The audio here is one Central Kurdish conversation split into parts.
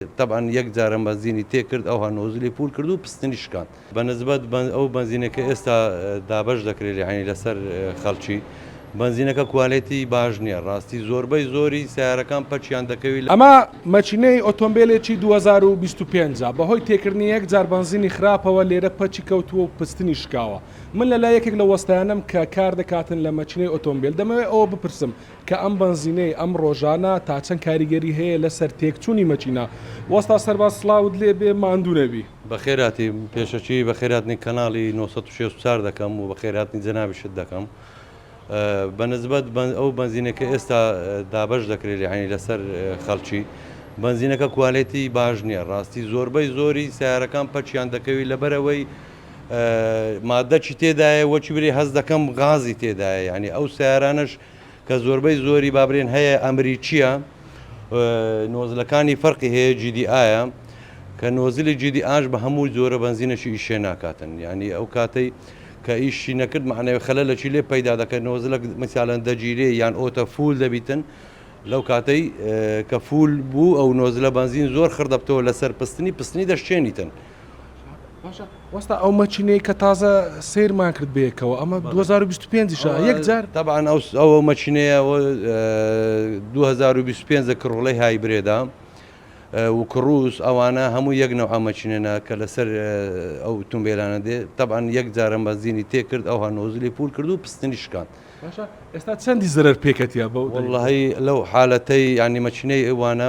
تەبعەن یەک جارم بەنزینی تێ کرد ئەوها نۆزلی پوول کرد و پستنی شکاند. بە نسبەت ئەو بەنزینە کە ئێستا دابەش دەکرێت یەعنی لەسەر خەڵکی بەنزینەکە کوالێتی باش نییە ڕاستی زۆربەی زۆری سەیارەکان پەکیان دەکەوی. ئەمە مەکینەی ئۆتۆمبێلێکی دوو هەزار و بیست و پێنج ە بەهۆی تێکردنی یەک جار بەنزینی خراپەوە لێرە پەکی کەوتووە و پستنی شکاوە. من لەلای یەکێک لە وەستایانەم کە کار دەکاتن لە مەکینەی ئۆتۆمبێل دەمەوێت ئەوە بپرسم کە ئەم بەنزینەی ئەم ڕۆژانە تا چەند کاریگەری هەیە لەسەر تێکچوونی مەکینە. وەستا سەرباز سڵاوت لێ بێ ماندوو نەبی. بەخێرهاتی، پێشەکیی بەخێرهاتنی کەناڵی نۆ سەد و شەست و چوار دەکەم و بەخێرهاتنی جەنابیشت دەکەم. بە نسبەت ئەو بەنزینەی کە ئێستا دابەش دەکرێت یەعنی لەسەر خەڵکی، بەنزینەکە کوالێتیی باش نییە ڕاستی، زۆربەی زۆری سەیارەکان پەکیان دەکەوی لەبەرئەوەی مادەکی تێدایە وەکی بری هەست دەکەم غازی تێدایە یەعنی ئەو سەیارانەش کە زۆربەی زۆری با برێن هەیە ئەمریکیە نۆزلەکانی فەرقی هەیە جیدی ئاە کە نۆزلی جیدی ئاش بە هەموو جۆرە بەنزینەشی ئیشێ ناکاتن ینی ئەو کاتەی کە ئیشی نەکرد معنەوە خەلە لە چی لێ پەیدا دەکەن نۆزلە مثالەن دەگیرێ یان ئۆتە فول دەبیتن لەو کاتەی کە فول بوو ئەو نۆزلە بەنزین زۆر خردەبتەوە لەسەر پستنی پستنی دەشتێنیتن باشە وەستا ئەو مەچینەی کە تازە سیرمان کرد بێکەوە ئەمە 2025 شە یەک جار تەبان ئەو ئەوە مەچینەیە 2025 کڕڵی های برێدا وکڕوس ئەوانە هەموو یەک نەوە ئەمەچینێنە کە لەسەر ئەو تونبێلانە دێ تەبان یەک جارە بەزینی تێکرد ئەوها نۆزلی پول کرد و پستنی شکان ئێستا چەندی زەرەر پێکەتە بە وڵی لەو حالەتەی ینی مەچینەی ئەوانە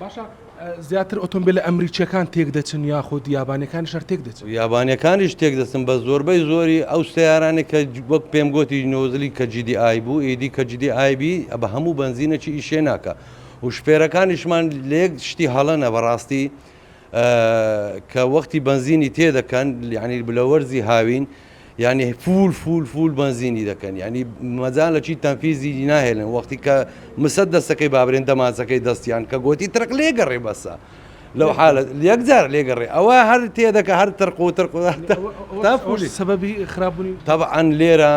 باشە زیاتر ئۆتۆمبیلە ئەمریکییەکان تێکدەچن یاخود یابانیەکانیش هەر تێکدەچن؟ یابانیەکانیش تێکدەچن بە زۆربەی زۆری ئەو سەیارانێک کە وەک پێم گۆتی نۆزلی کە جیدی ئای بوو ئیدی کە جیدی ئایبی بە هەموو بەنزینەکی ئیشێ ناکە و شپێرەکانیشمان لێک شتی هەڵەنە بەڕاستی کە وەختی بەنزینی تێدەکەن لیعنی بلەوەرزی هاوین یانی فول فول فول بەنزینی دەکەن یانی مەجال لە چی تەنفیزی ناهێنن وەختی کە مسە دەستەکەی بابرێن دەمانچەکەی دەستیان کە گوتی ترق لێگەڕێ بەسە لەو حالە یەکجار لێگەڕێ ئەوە هەر تێدەکە هەر ترق و ترق سەبەبی خراپبوونی تەبعاان لێرە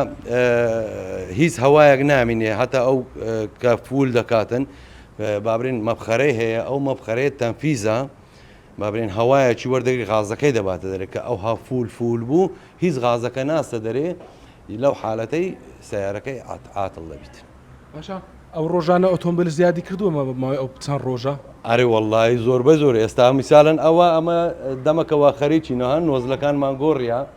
هیچ هەوایەک نامینێ هەتا ئەو کە فول دەکاتن بابرین مەبخەرەی هەیە ئەو مەبخەرەیە تەنفیزە با بلێین هەوایەکی وەردەگری غازەکەی دەباتە دەرێ کە ئەوها فول فول بوو هیچ غازەکە ناستە دەرێ لەو حالەتەی سەیارەکەی عات عاتڵ دەبیت. باشە ئەو ڕۆژانە ئۆتۆمبیل زیادی کردووە مە ماوەی ئەو چەند ڕۆژە؟ ئەرێ وەڵڵاهی زۆربەزۆر ئێستا میسالەن ئەوە ئەمە دەمەکەوە خەریکینە ها نۆزلەکانمان گۆڕیە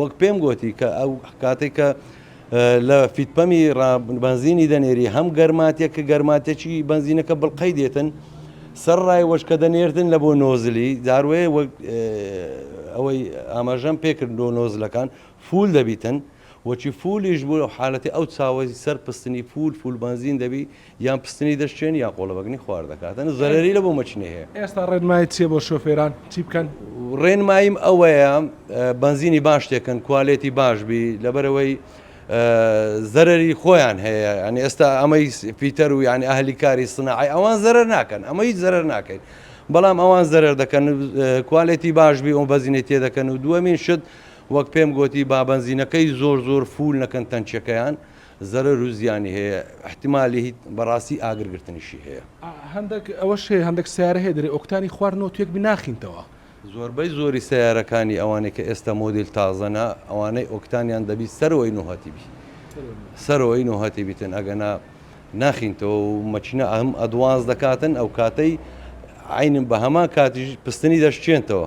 وەک پێم گۆتی کە ئەو کاتێک کە لە فیتپەمی بەنزینی دەنێری هەم گەرماتێک کە گەرماتێکی بەنزینەکە بڵقەی دێتن سەر ڕای وەشکە دەنێردن لە بۆ نۆزلی داروێ ئەوەی ئاماژەم پێکرد لۆ نۆزلەکان فول دەبیتن وەچی فولیش بوو حالەتی ئەو چاوەی سەر پستنی فول فول بەنزین دەبی یان پستنی دەشچێنی یان قۆڵەبەگنی خوار دەکات ئەنە زەرەری لە بۆ مەکینەی هەیە. ئێستا ڕێنمایت چیە بۆ شۆفێران چی بکەن؟ ڕێنماییم ئەوەیە بەنزینی باش تێکەن کوالێتی باش بی لەبەرەوەی زەرری خۆیان هەیە ئەنی ئێستا ئەمەی فیتەر و یعنی ئەهلی کاری سناعی ئەوان زەرەر ناکەن ئەمە هیچ زەرەر ناکەین بەڵام ئەوان زەرەر دەکەن کوالێتی باش بی ئەو بەزینەی تێ دەکەن و دووەمین شت وەک پێم گوتی بابەنزینەکەی زۆر زۆر فول نەکەن تەنچەکەیان زەرەر و زیانی هەیە ئیحتیمالی هیت بەڕاستی ئاگر گرتنیشی هەیە. هەندەک ئەوەش هەیە هەندەک سەیارە هەیە دەرێ ئۆکتانی خوار نۆ توێک بی ناخینتەوە. زۆربەی زۆری سەیارەکانی ئەوانەی کە ئێستا مۆدیل تازەنە ئەوانەی ئۆکتانیان دەبی سەرەوەی نۆ هەتی بی سەرەوەی نۆ هەتی بیتن ئەگەنا ناخینتەوە و مەکینە ئەم ئەدوانس دەکاتن ئەو کاتەی عەینن بە هەمان کاتیش پستنی دەشکێنتەوە.